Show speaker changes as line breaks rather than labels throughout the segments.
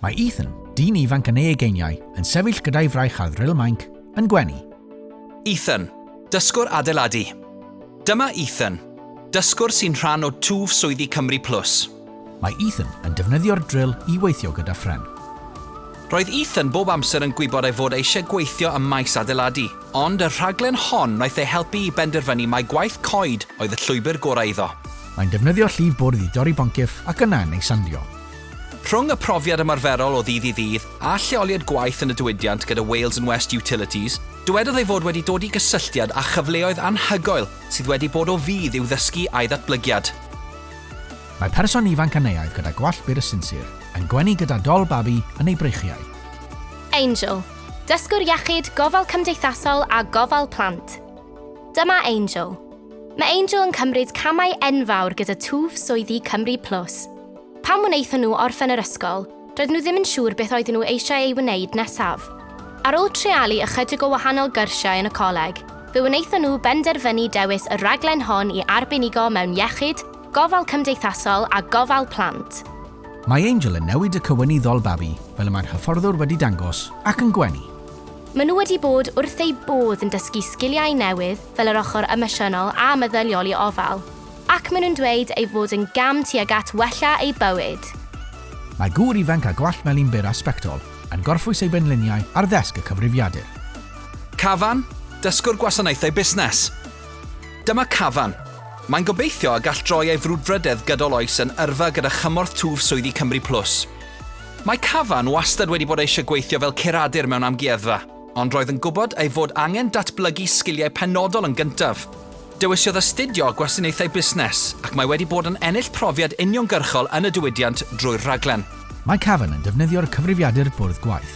Mae Ethan, dyn ifanc yn ei ugeiniau, yn sefyll gyda'i fraich ar ddril mainc, yn gwenu. Ethan, dysgwr adeiladu. Dyma Ethan, dysgwr sy'n rhan o twf swyddi Cymru Plus. Mae Ethan yn defnyddio'r dril i weithio gyda phren. Roedd Ethan bob amser yn gwybod ei fod eisiau gweithio ym maes adeiladu, ond y rhaglen hon wnaeth ei helpu i benderfynu mai gwaith coed oedd y llwybr gorau iddo. Mae'n defnyddio llif bwrdd i dorri boncyff ac yna yn ei sandio. Rhwng y profiad ymarferol o ddydd i ddydd a lleoliad gwaith yn y diwydiant gyda Wales and West Utilities, dywedodd ei fod wedi dod i gysylltiad â chyfleoedd anhygoel sydd wedi bod o fudd i'w ddysgu a'i ddatblygiad. Mae person ifanc Aneaidd gyda gwallt byr a sinsir, yn gwenu gyda dol babi yn ei breichiau. Angel, dysgwr iechyd, gofal cymdeithasol a gofal plant. Dyma Angel. Mae Angel yn cymryd camau enfawr gyda twf swyddi Cymru Plus. Pan wnaethon nhw orffen yr ysgol, doedden nhw ddim yn siŵr beth oedden nhw eisiau ei wneud nesaf. Ar ôl treialu ychydig o wahanol gyrsiau yn y coleg, fe wnaethon nhw benderfynu dewis y rhaglen hon i arbenigo mewn iechyd, gofal cymdeithasol a gofal plant. Mae Angel yn newid y cywynyddol babi, fel y mae'r hyfforddwr wedi dangos, ac yn gwenu. Maen nhw wedi bod wrth eu bodd yn dysgu sgiliau newydd fel yr ochr emosiynol a meddyliol i ofal. Ac maen nhw'n dweud ei fod yn gam tuag at wella eu bywyd. Mae gŵr ifanc â gwallt melyn byr a sbectol yn gorffwys ei benliniau ar ddesg y cyfrifiadur. Cavan, Dysgwr Gwasanaethau Busnes. Dyma Cavan. Mae'n gobeithio y gall droi ei frwdfrydedd gydol oes yn yrfa gyda chymorth twf swyddi Cymru Plus. Mae Cavan wastad wedi bod eisiau gweithio fel curadur mewn amgueddfa. Ond roedd yn gwybod ei fod angen datblygu sgiliau penodol yn gyntaf. Dewisiodd astudio Gwasanaethau Busnes ac mae wedi bod yn ennill profiad uniongyrchol yn y diwydiant drwy'r rhaglen. Mae Cavan yn defnyddio'r cyfrifiadur bwrdd gwaith.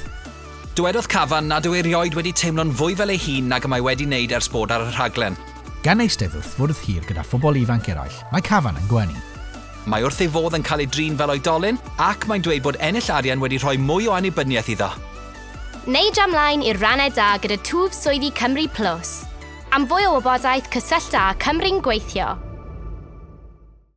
Dywedodd Cavan nad yw erioed wedi teimlo'n fwy fel ei hun nag y mae wedi wneud ers bod ar y rhaglen. Gan eistedd wrth fwrdd hir gyda phobl ifanc eraill, mae Cavan yn gwenu. Mae wrth ei fodd yn cael ei drin fel oedolyn ac mae'n dweud bod ennill arian wedi rhoi mwy o annibyniaeth iddo. Neu dra mlaen i'r rannau da gyda twf swyddi Cymru Plus. Am fwy o wybodaeth cysyllta â Cymru'n Gweithio.